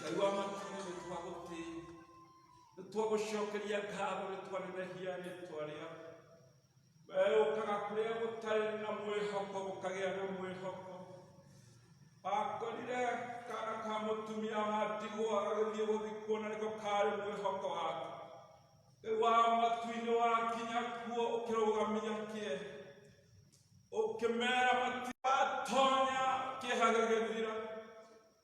ngai wa makuyu nĩ twagũtĩi nĩ twagũcokeria ngatho nĩ twanenehia rĩtwa rĩaku wee ũkaga kũrĩa gũtarĩ na mwĩhoko gũkagĩa na mwĩhoko akorire kana ka mũtumia wa ndigwa gagĩthiĩ gũthikwo na nĩko karĩ mwĩhoko wake rĩu wa matu-inĩ wakinya kuo ũkĩrũgamia kĩe ũkĩmera matiatonya kĩeha gĩgĩthira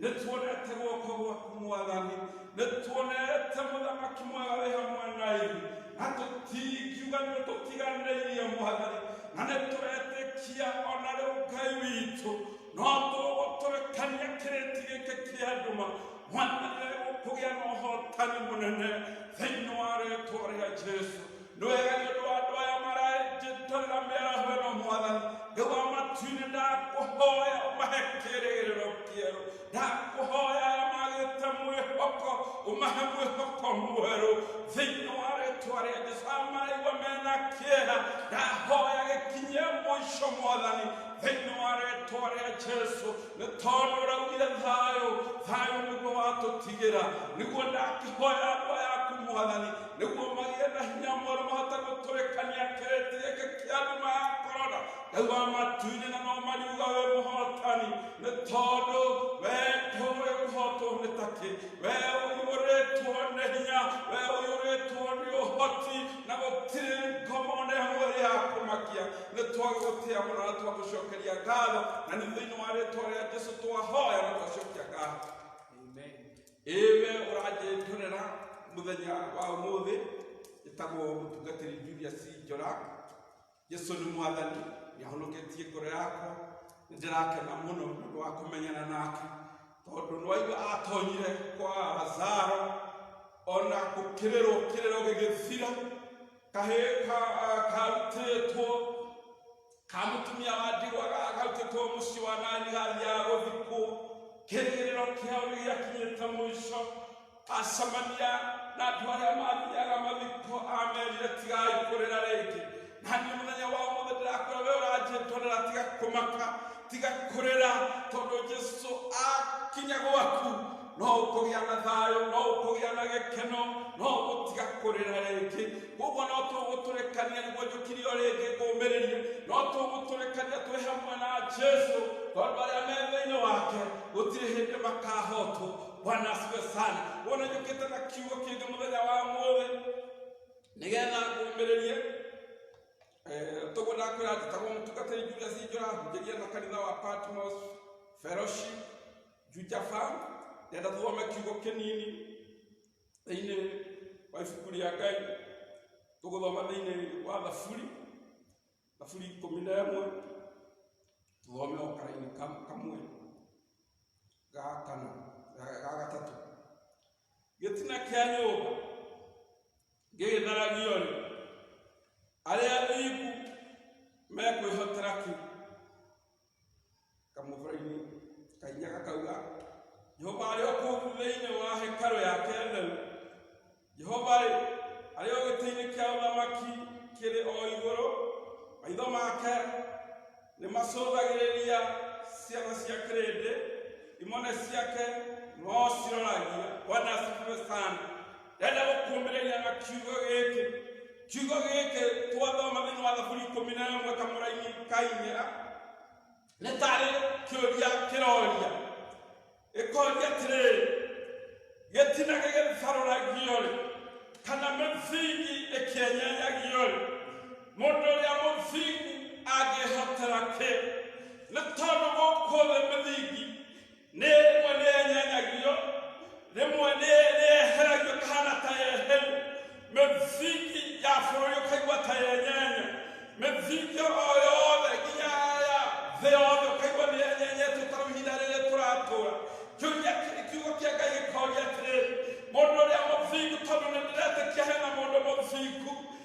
nĩtuone ate guoko gwaku mwathani nĩtuone ate mũthamaki mwega wĩ hamwe na ithu na tũtingiuga nĩ tũtiganĩirie mwathani na nĩtũretĩkia ona rĩu ngai witũ no tũgũtũrekania kĩrĩti gĩkĩ kĩa nduma mwathani nĩgũkũgĩa na ũhotani mũnene thĩinĩ wa rĩtwa rĩa jesu nĩ wega nĩ ũndũ wa andũ aya maranjĩtĩrĩra mĩaraho ĩno mwathani nĩ wa matuinĩ ndakũhoya ũmahe kĩrĩgĩrĩro kĩerũ ndakũhoya aya magĩte mwĩhoko ũmahe mwĩhoko mwerũ thĩinĩ wa rĩtwa rĩa jesu aya maraigua mena kĩeha ndahoya gĩkinyie mũico mwathani thĩinĩ wa rĩtwa rĩa jesu nĩ tondũ ũraugire thayũ thayũ nĩguo watũtigĩra nĩguo ndakĩhoya andũ aya aku mwathani nĩguo magĩe na hinya mwerũ mahote gũtũrĩkania kĩrĩti gĩkĩ kĩa nduma ya korona ngai wa matu-inĩ na no mariuga wĩ mũhotani nĩ tondũ we ndũĩ ũhotwo nĩ takĩ we ũiyũrĩtwo nĩ hinya we ũiyũrĩtwo nĩ ũhoti na gũtirĩ ngomo na ĩmwe ya kũmakia nĩ twagũgũtĩa mũno na twagũcokeria ngatho na nĩ thĩinĩ wa rĩtwa rĩa jesu twahoya na twacokia ngatho ĩ we ũranjĩnjũrĩra mũthenya wa ũmũthĩ ĩtagwo mũtungatĩri julius njora jesu nĩ mwathani nĩahonoketie ngoro yakwa nĩndĩrakena mũno nĩũndũ wa kũmenyana nake tondũ nĩwaigua atonyire kwa lazaro ona gũkĩrĩrwo kĩrĩro gĩgĩthira kahĩĩ ka- karutĩtwo kamutumia wa ndigwa gakarutĩtwo mũciĩ wa nani hali ya gũthikwo kĩrĩgĩrĩro kĩao nĩ gĩakinyĩte mũico acemania na andũ arĩa mathiaga mathiko amerire tigai kũrĩra rĩngĩ na niĩ mũthenya wa mũthĩ ndĩrakwĩra we ũranjĩtwanĩra tiga kũmaka tiga kũrĩra tondũ jesu akinya gwaku no ũkũgĩa na thayũ no ũkũgĩa na gĩkeno no ũgũtiga kũrĩra rĩngĩ koguo no tũgũtũrĩkania nĩguo njũkirio rĩngĩ ngũmĩrĩria no tũgũtũrĩkania twĩ hamwe na jesu tondũ arĩa me thĩinĩ wake gũtirĩ hĩndĩ makahotwo bwana asiwe sana wona njũkĩte na kiugo kĩngĩ mũthenya wa mũthĩ nĩgetha ngũmĩrĩrie toguo ndakwĩra njĩtagwo mũtungatĩri julius njũra hujĩria na kanitha wa patmos fellowship jujaba nenda thome kiugo kĩnini thĩinĩ wa ibuku rĩa ngai tũgũthoma thĩinĩ wa thaburi thaburi ikũmi na ĩmwe tũthome o karaini kam- kamwe ga kana ga- ga gatatũ gĩtina kĩa nyũmba gĩgĩtharagio rĩ arĩa athingu mekwĩhotera kĩ kamũbũra-inĩ kahinya gakauga jehova arĩ o kũu thĩinĩ wa hekarũ yake theru jehova rĩ arĩ o gĩtĩ-inĩ kĩa ũthamaki kĩrĩ o igũrũ maitho make nĩ macũthagĩrĩria ciana cia kĩrĩndĩ imone ciake no ciroragia bwana asifiwe sana ndenda gũkuombĩrĩria na kiugo gĩkĩ kiugo gĩkĩ twathoma thĩinĩ wa thaburi ikũmi na ĩmwe kamũraini kainyera nĩ tarĩ kĩũria kĩroria ĩkoria atĩrĩrĩ gĩtina gĩgĩtharũragio-rĩ kana mĩthingi ĩkĩenyanyagio-rĩ mũndũ ũrĩa mũthingu angĩhotera kĩ nĩ tondũ gũkũ thĩ mĩthingi nĩrĩmwe nĩenyanyagio rĩmwe nĩ- nĩeheragio kahana ta eheru mĩthingi ya bũrũri ũkaigua ta yenyenya mĩthingi o yothe nginya ya thĩ yothe ũkaigua nĩyenyenyetwo ta rĩu ihinda rĩrĩ tũratũra kĩũria kĩ- kiugo kĩa ngai gĩkoria atĩrĩrĩ mũndũ ũrĩa mũthingu tondũ nĩndĩretĩkia hena mũndũ mũthingu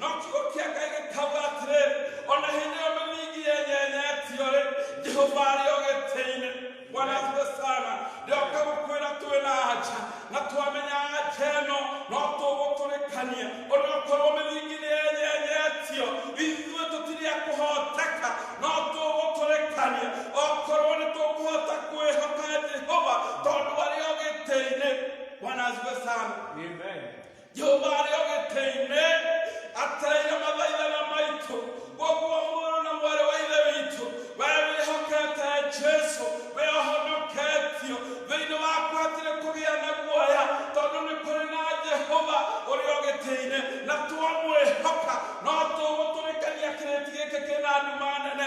no kiugo kĩa ngai gĩkauga atĩrĩ o na hĩndĩ ĩyo mĩmingi yenyenyetio-rĩ jehova arĩ o gĩtĩ-inĩ bwana asifiwe sana ndĩoka gũkwĩra twĩ na anja na twamenya anja ĩno no tũgũtũrĩkania onakorwo mĩmingi nĩ yenyenyetio ithuĩ tũtirĩ a kũhoteka no tũgũtũrĩkania okorwo nĩ tũkũhota kwĩhoka jehova tondũ arĩ o gĩtĩ-inĩ bwana asifiwe sana Amen. jehova arĩ o gĩtĩ-inĩ atereire mathaithana maitũ koguo mũrũ na mwarĩ wa ithe witũ we wĩhokete jesu we ũhonoketio thĩinĩ waku hatirĩ kũgĩa na guoya tondũ nĩ kũrĩ na jehova ũrĩ o gĩtĩ-inĩ na twamwĩhoka no tũgũtũrĩkania kĩrĩti gĩkĩ kĩna nduma nene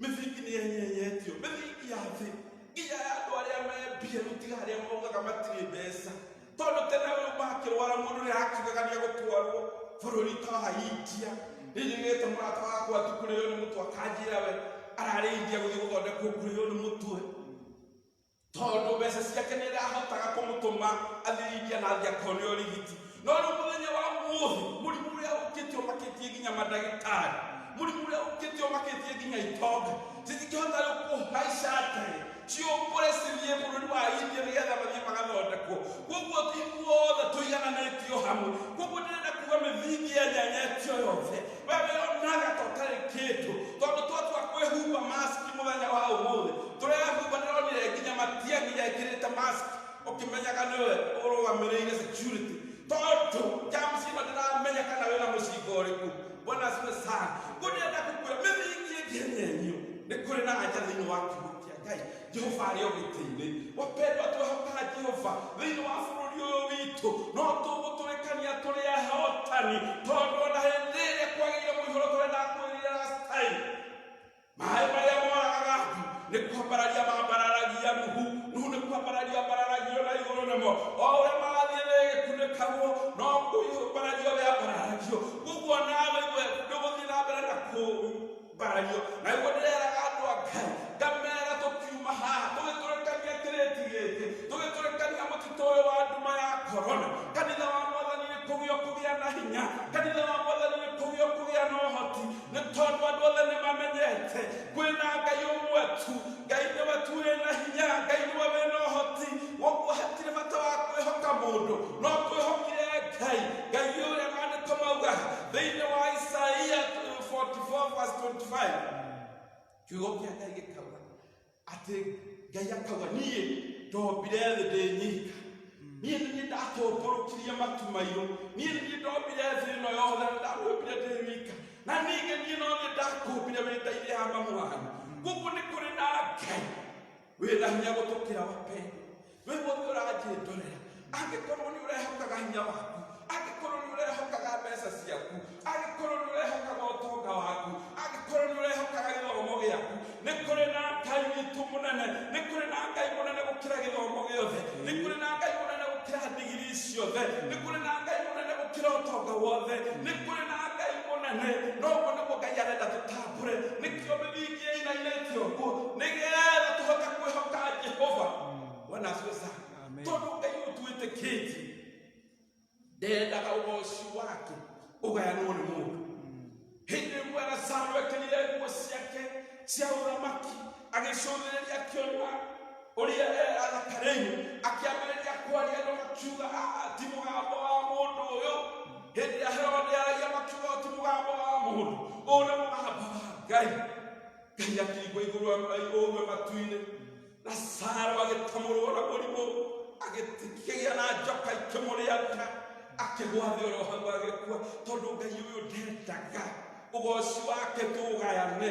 mĩthingi nĩ ĩnyenyetio mĩthingi ya thĩ nginya ya andũ arĩa mebia rĩu tiga arĩa maugaga matirĩ mbeca tondũ tene ũyũ makĩrwara mũndũ nĩ arakiugaga nĩ egũtwarwo bũrũri ta wa india nĩnyonete mũrata wakwa atĩ kũrĩo nĩ mũtwe akanjĩra we ararĩ india gũthiĩ gũthondekwo kũrĩo nĩ mũtwe tondũ mbeca ciake nĩ irahotaga kũmũtũma athiringia na athiĩ akone ũrigiti no rĩu mũthenya wa muohi mũrimũ ũrĩa ũkĩte ũmakĩtie nginya mandagĩtarĩ mũrimũ ũrĩa ũkĩte ũmakĩtie nginya itonga citingĩhota rĩu kũhaica ndege ciũkũre cithiĩ bũrũri wa india nĩgetha mathiĩ magathondekwo koguo ithuothe tũigananĩtio hamwe koguo ndĩrenda kuga mĩthingi ya nyenyetia yothe wewe onaga ta ũtarĩ kĩndũ tondũ twatua kwĩhumba masiki mũthenya wa ũmũthĩ tũrehumba ndĩronire nginya matiang'i ekĩrĩte masiki ũkĩmenyaga nĩwe ũrũgamĩrĩire security tondũ james ĩno ndĩramenya kana wĩna mũcinga ũrĩkũ bwana asiwe sana ngũnenda kũkwĩra mĩthingi ĩngĩ nyenyu nĩ kũrĩ na anja thĩinĩ wa kiugo kĩa ngai jehova arĩ o gĩtĩ-inĩ wapendwa twĩ hamwe na jehova thĩinĩ wa bũrũri ũyũ witũ no tũgũtũrĩkania tũrĩ ahotani tondũ ona hĩndĩ ĩrĩa kwagĩire mũihoro tũrĩa ndakwĩrire last time maĩ marĩa moragaga ndu nĩ kwambararia mambararagia nuhu nuhu nĩ kwambararia mbararagio na igũrũ namo o ũrĩa marathiĩ nĩgĩkunĩkagwo no kũiũmbaragio gĩambararagio ũguo nawe iwe ndũgũthiĩ na mbere na kũu ũmbarario naguo ndĩreraga andũ a ngai ngamera tũkiuma haha tũgĩtũrĩkania kĩrĩti gĩkĩ tũgĩtũrĩkania mũtitũ ũyũ wa nduma ya korona kanitha wa mwathani nĩ kũgio kũgĩa na hinya kanitha wa mwathani nĩ kũgio kũgĩa na ũhoti nĩ tondũ andũ othe nĩ mamenyete kwĩna ngai ũmwe tu ngai nĩwe tu wĩna hinya ngai nĩwe wĩna ũhoti woguo hatirĩ bata wa kwĩhoka mũndũ no twĩhokire ngai ngai ũrĩa maandĩko mauga thĩinĩ wa isaia 44 verse 25 kiugo kĩa ngai gĩkauga atĩ ngai akauga niĩ ndombire thĩ ndĩ nyika niĩ nĩ niĩ ndatũmbũrũkirie matu mairũ niĩ nĩ niĩ ndombire thĩ ĩno yothe na ndamĩũmbire ndĩ wika na ningĩ niĩ no niĩ ndakũmbire wĩtaire hama mũhano gũkũ nĩ kũrĩ na ngai wĩna hinya gũtũkĩra wapendwa we mũndũ ũranjĩndorera angĩkorwo nĩ ũrehokaga hinya waku angĩkorwo nĩ ũrehokaga mbeca ciaku angĩkorwo nĩ ũrehokaga ũtonga waku angĩkorwo nĩ ũrehokaga gĩthomo gĩaku nĩ kũrĩ na ngai witũ mũnene nĩ kũrĩ na ngai mũnene gũkĩra gĩthomo gĩothe nĩ kũrĩ na ngai mũnene gũkĩra ndigiri ciothe nĩ kũrĩ na ngai mũnene gũkĩra ũtonga wothe nĩ kũrĩ na ngai mũnene no ũguo nĩguo ngai arenda tũtambe kure nĩkĩo mĩthingi ĩinainĩtio ũguo nĩgetha tũhote kwĩhoka jehova bwana asiwe sana Amen. tondũ ngai ũtwĩtĩkĩtie ndendaga ũgoci wake ũgayanwo nĩ mũndũ hĩndĩ ĩmwe lazaro ekĩrire nguo ciake cia ũthamaki agĩcũthĩrĩria akĩona ũrĩa e arakarĩirwo akĩambĩrĩria kwaria andũ makiuga "Ah, ti mũgambo wa mũndũ ũyũ hĩndĩ ĩrĩa herode aragia makiuga "Ũyũ ti mũgambo wa mũndũ ũyũ nĩ mũgambo wa ngai ngai akĩigua igũrũ ũguo matu-inĩ na saro agĩtamũrwo na mũrimũ agĩkĩgĩa na njoka ikĩmũrĩanga akĩgwa thĩ oro hau agĩkua tondũ ngai ũyũ ndendaga ũgoci wake tũũgayane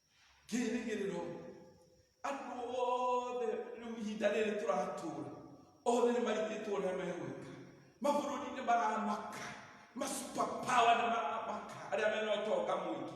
kĩrĩgĩrĩro andũ othe rĩu ihinda rĩrĩ tũratũra othe nĩ maritĩtwo ũrĩa megwĩka mabũrũri nĩ maramaka masupapawa nĩ maramaka arĩa mena ũtonga mũingĩ